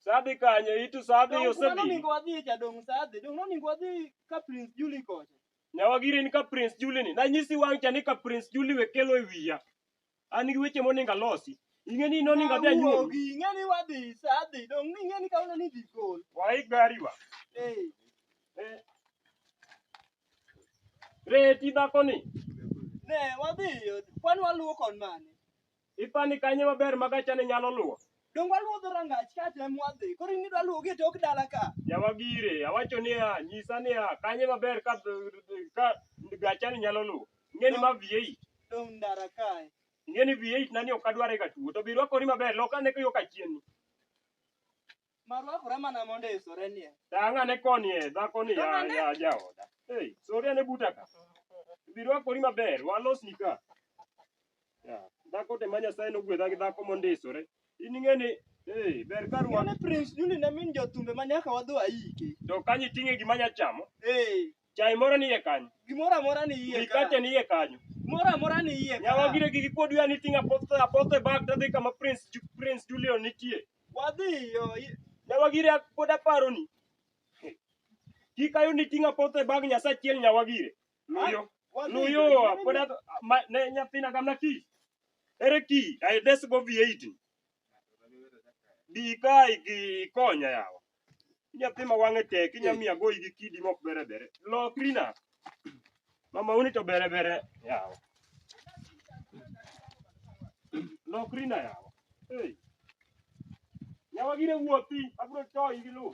Sadhi kanye itu sadhi yo sadhi. Dong ningo adhi cha dong sadhi. Dong no ningo adhi ka Prince Julie kocha. Nyawagiri ni ka Prince Julie ni. Na nyisi wang cha ni ka Prince Julie wekelo e wiya. An gi weche monego alosi. Ing'e ni nonego adhi anyuomi. Awuogi, ing'e ni wadhi sa adhi, dong' ing'e ni kawuono ni idhi gol. Waik gariwa. Ee, Eh. Reti dhakoni. ne, wadhi, kwan waluwo kon mane. Ipani kanye maber ma gachane nyalo luwo? Donge waluwo dho rangach ka tem wadhi? Koro in idwa luwogi e tok dala ka? Yawa gire, awacho niya, nyisa niya, kanye maber ka ka gachani nyalo luwo. Ing'eni ma V8, Dong' ndara kae. ing'eni V8 nani ok adware ka tuo, to bi rwakori maber, lok ane yo kachien. Marwakore mana mondo isore nie. Tang' ane koni e dhako ni ya, ya jaoda. Hey, sori ane buta ka. Bi rwakori maber, walosni ka. Yeah. Dhako te ma Nyasaye nogwedha gi dhako mondisore. In ing'e ni eh ber ka ruwa. Yule Prince Juli ne min jothumbe ma nyaka wadhi waike. To kanyo iting'e gima nya chamo. Eh, Chai moro ni iye kanyo. gimoro amora ni iye ka. Mikate ni iye kanyo. Gimoro amora ni iye ka. Nyawa gire gigi pod ya ni ting'a pothe apothe bag tadhi kama Prince Ju- Prince Julio nitie. Wadhi yo. i- Nyawa gire pod aparo ni. Kik ayo ni ting'a pothe bag Nyasaye achiel nyawa gire. Nuyo. Nuyo pod adh- ma- ne nyathina gamna ki. Ere ki? Ai des go V8. Bi kai gi konya yawa. Nyathi ma wang'e tek inya miya goyi gi kidi mok bere bere. Lokri na. Mama uni to bere bere yawa. Lokri na yawa. Hey. Yawa gire wuothi abro toyi gi lu.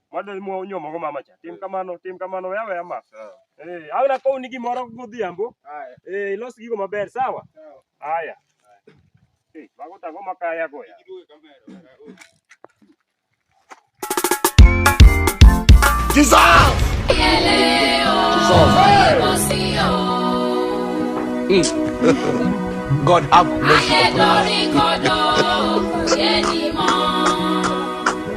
Mano ema onyuomogo mama cha. Tim kamano, tim kamano, we aweya ma. Eh, awe nakowni gimoro godhiambo. Eh, ilos gigo maber, sawa? Haya. Eh, mago to ang'o makaya goya? Jesus! God have mercy.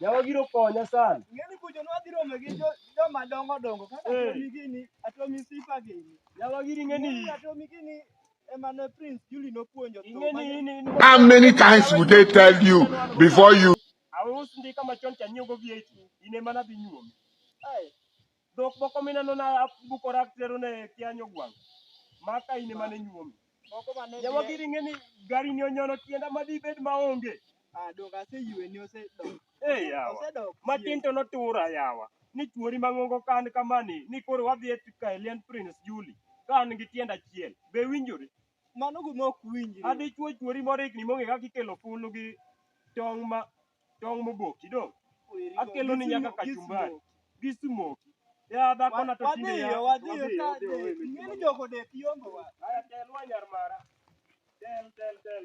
Yawa giro konya sana. Ng'eni kucho nwa dhi romo gi jo- joma dongo dongo kaka Eh. Tommy gini, Atomi Sifa gini. Yawa giri ng'eni. Ng'eni Atomi gini ema ne Prince Julie nopuonjo thum Ing'eni mane- in in. How many times would they tell you before you Aus ndika machon cha nyiewo go VAT. In ema nadhi nyuomi. Ai, Dhok moko mineno na buko rak tero ne kianyo gwang. Maka ine mane nyuomi. Moko mane. Yawa giri ngeni gari ni onyono tienda madi bed maonge. Ah, dok ase yue ni ose dok. Eh yawa. Ose dok. Matin to notura yawa. Ni chuori mangongo kan kamani ni koro wadhi e Kaelian Prince Julie. Ka an gi tienda chiel. Be winjore? Mano gima ok winjre. A Dichwo chwori moro higni mong'e kaka ikelo fulu gi tong' ma tong' moboki dong'. Akelo ni nyaka kachumbari gi smoki. Ya dhakona to tinde ya. Wadhiyo, wadhiyo ka dek. Ing'eni jogo dek yombo wa. Aya telwa nyar mara. Tel, tel, tel.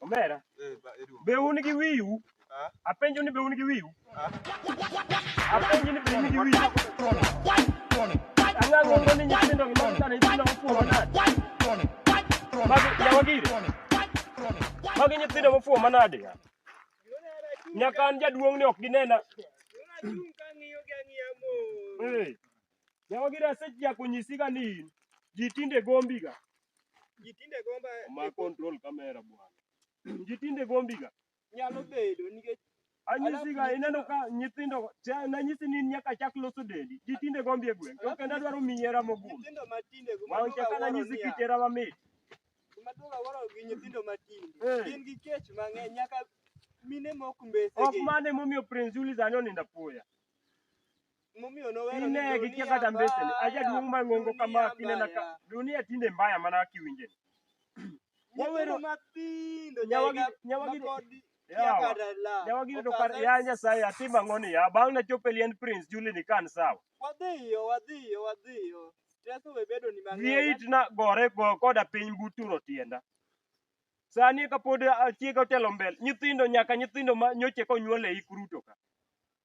Omera, Eh, ba- Edu. be un gi wiu? Ah. Apenjo ni be un gi wiu? Ah. Apenjo ni be un gi wiu? Ang'ang'o ngo ni nyithindo gi mag sana nyithindo mofuwo manade? Magi nyawagire? Magi nyithindo mofuwo manade? Nyaka an jaduong' ni ok ginena. Eh. Nyawagire asechako nyisiga ni in ji tinde gombiga. Ji tinde gomba Ma control camera bwana. Ji tinde gombiga. nyalo bedo nikech Anyisiga Alafu- ineno ka nyithindo cha- nanyisi ni nyaka chak loso dendi. Ji tinde gombi e gweng'. To kendo adwaro miyi hera mogundho. nyithindo matinde guma Wang' cha ka nanyisi kit hera mamit. maduoga waro gi nyithindo matinde Eh. gin gi kech mang'eny nyaka mine mok mbese Ok gi mane momiyo Prince Julius anyo nindo apoya. Ine gikia kata mbeseni. Aja duong' mang'ongo kama kinena ka dunia tinde mbaya mana kiwinje. Wawero nyawagi nyawagi nyawagi yudo kar ya Nyasaye atima ng'oni ya bang' na chope lien prince Julie ni kan sawa. Wadhiyo wadhiyo wadhiyo. Teso we bedo ni mang'ongo. Yie itna gore go koda piny buturo tienda. Sani kapod achiega otelo mbele nyithindo nyaka nyithindo ma nyoche konyuole ikruto ka.